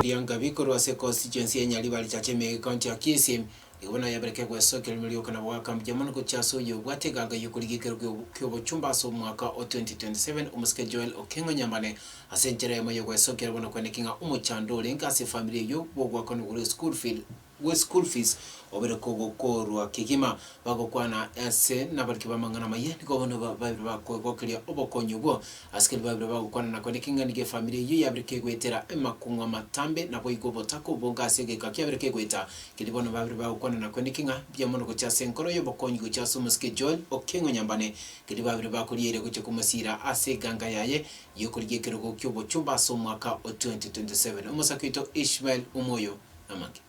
Bianka bikorwa ase ekosi chi'ense ya Nyaribari chiacha emegeka nchia Kisi, igo bono yabereke gwesokia rimo rioka na goaka mbuya mono gochia ase oyo obwate egaga y'okorigekerwa ki'o ki'obochumba ase omwaka o 2027, omosike Joel Okengo Nyambane, ase enchera eyemo y'ogwesokia rimo na kweneki ng'a omochando orenge ase efamiri eyio bw'ogoakanwa gore school feed. bwe school fees obere kogokorwa kegima. Bagokwana ase nabariki b'amang'ana amaya nigo bono babeire bakoegokeria obokonyi obwo. Asikari babeire bagokwana na kore keng'ani gefamiri eyio yabeire kegoetera emakung'u amatambe naboigo obotaka obwongo ase egeka kiabeire kegoeta. Keri bono babeire bagokwana na kore ki ng'a mbuya mono gochia ase enkoro y'obokonyi gochia ase omosike Joel Okengo Nyambane keri babeire bakoriaire gochia komosira ase eganga yaye y'okorigia ekerogo ki'obochumba ase omwaka o 2027. Omosake oito Ishmael Omoyo. amake.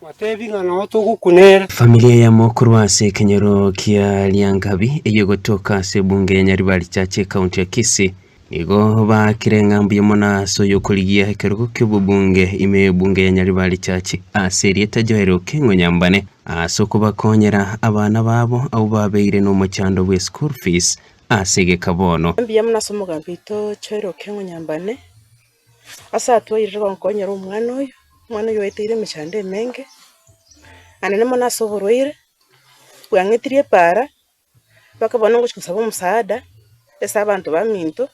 Batebi ng'a nao togokuna ere. Familia ya mokuru ase ekenyoro kia Lyangabi eyegotoka ase ebunge ya Nyaribari Church ekaunti ya Kisii nigo baakire ng'a mbuya mono ase oyokorigia ekerogo kiobobunge ime y'ebunge ya Nyaribari Church ase erieta Joel Okengo Nyambane ase okobakonyera abana babo abwo babeire nomochando bwe school fees ase egeka bono. Mbuya mono ase omogambi oito Joel Okengo Nyambane. Ase atwaeire gonkonyera omwana oyo, omwana oyo oeteire emechando emenge, naende nemo na ase oborwaire, bwang'etiri epaara, mpaka bono ngochia kosaba omosaada, ase abanto baminto,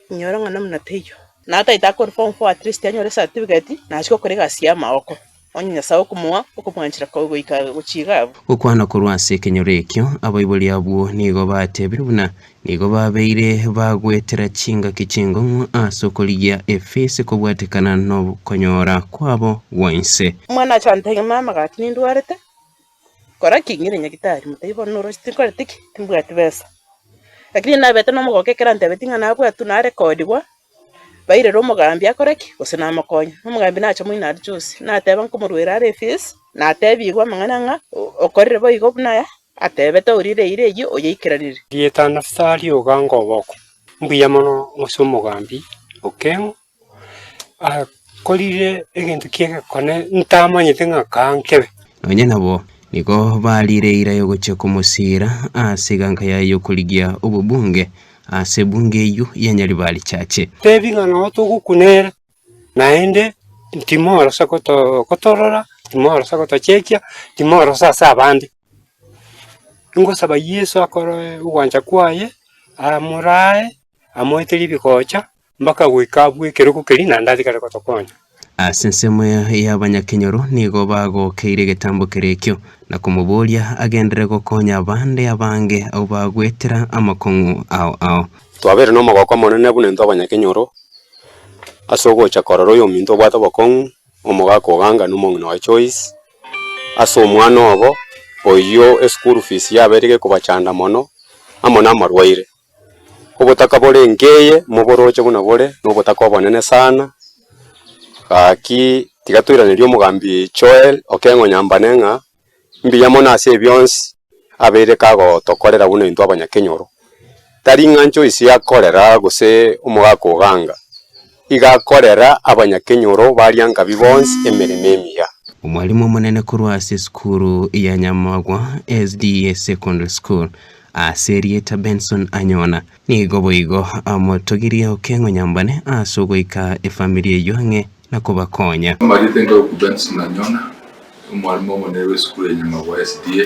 inyore ng'a namuna teiyo. Naye otaete akore form four atleast anyore esatifiketi, nachia gokora egasi y'amagooko. Onye Nyasae okomoa okomwanchera kobe goika gochiiga abwo. Gokwana korwa ase ekenyoro ekio, abaibori abwo nigo batebire buna nigo babeire bagwetera chingaki ching'ong'o ase okorigia efisi kobwatekana nokonyora kwabo gwa inse. Omwana ache antebie, Ng'a amagaati nindwarete. Kora ki? Ng'ire nyagitari. Motebie, Bono noroche tinkoreti ki? Timbwati besa. Lakini ninabete nomogoka ekero antebeti ng'a nabwatwe narekodigwa, bairere omogambi akore ki? Gose namokonye. Na omogambi nacha moino aria Josi, nateba nkomoruere are efees, natebigwe amang'ana ng'a okorire boigo buna aya atebete orire eira eyio oyeikeranire. Rieta Nafutali oganga oboko. Mbuya mono gose omogambi okeng'u. Nkorire egento ki'egekone ntamanyete ng'a kaa nkebe. Nonya nabo nigo bariire eira yogochia komosiira ase eganka yaye y'okorigia obobunge ase ebunge eyio ya Nyaribari Church. Tebi ng'a nao togokuna ere, naende timorasa gotorora, timorasa gotochekia, timorasa ase abande. Ingosaba Yeso akoroe ogwancha kwaye, amoraae, amoete ribigocha, Mpaka goika abwo ekerogo keria naende atigare gotokonya. Ase ensemo y'abanyakenyoro nigo bagokeire egetambo keria ekio, na komoboria agenderere gokonya abande abange abwo bagwetera amakong'u ao ao. Twabeire n'omogoko omonene buna intwe abanyakenyoro, ase ogocha korora oyominto obwate obokong'u, omogaka o Ganga na omong'ina oye Choice, ase omwana obo oyio eschool fees yabeire gekobachanda mono, amo namarwaire. Obotaka bore nkeye moboroche buna bore nobotaka obonene sana, gaki tiga toiranerie omogambi Joel Okengo Nyambane ng'a mbuya mono ase ebionsi abeire kagotokorera buna intwe abanyakenyoro. Tari ing'ancho ise akorera gose omogaka oganga. Igakorera abanyakenyoro baria Ngabi bonsi emeremo emiya. Omwalimu omonene korwa ase esukuru ya Nyamagwa SDA Secondary School ase erieta Benson Anyona nigo boigo amotogirie okeng'o nyambane ase ogoika efamiri eyio ang'e na kobakonya. Amarieta Engaku Benson Anyona, omwalimu omonene bw'esukuru ya Nyamagwa SDA.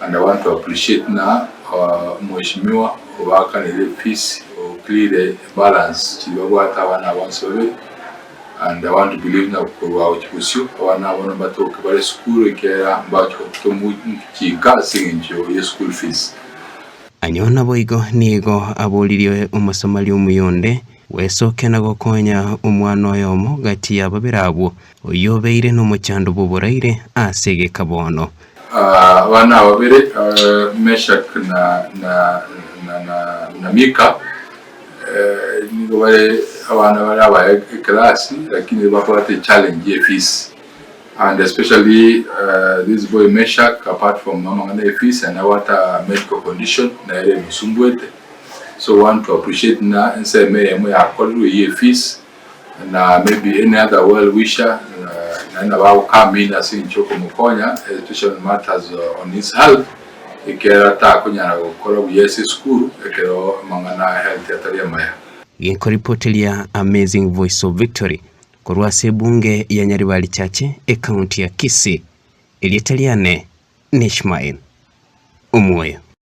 And I want to appreciate na mweshimiwa obaakanire peace or cleare balance chiri babwate abana abo bonsi babere and I want to believe na korwa gochi bosio abana abo nabatoke bare esukuru ekiagera mbacho tomuchinka ase engencho ye school fees. Ayio naboigo nigo aboririe omosomari omuya onde, Bwesoke na gokonya omwana oyomo gati ya babere abwo, Oyio obeire nomochando bw'oboraire aase egeka bono. Abana ababere, Meshak na Mika, nigo bare abana bare abaya ekelasi lakini bakobwate echallenge ye fees and especially this boy Meshak apart from amang'ana ye fees aye nabwate a medical condition nere emosumbuete so want to appreciate buna ensemo eyemo yakorerwe eyie fees. na maybe any other well wisher uh, naye nabo agokama in ase enchia okomokonya education matters uh, on his health ekero atakonyara gokora buya ase esukuru ekero amang'ana a health atari amaya Gekoripoteria Amazing Voice of Victory korwa ase ebunge ya Nyaribari Chache ekaunti ya Kisii, erieta riane n'Ishmael Omoyo.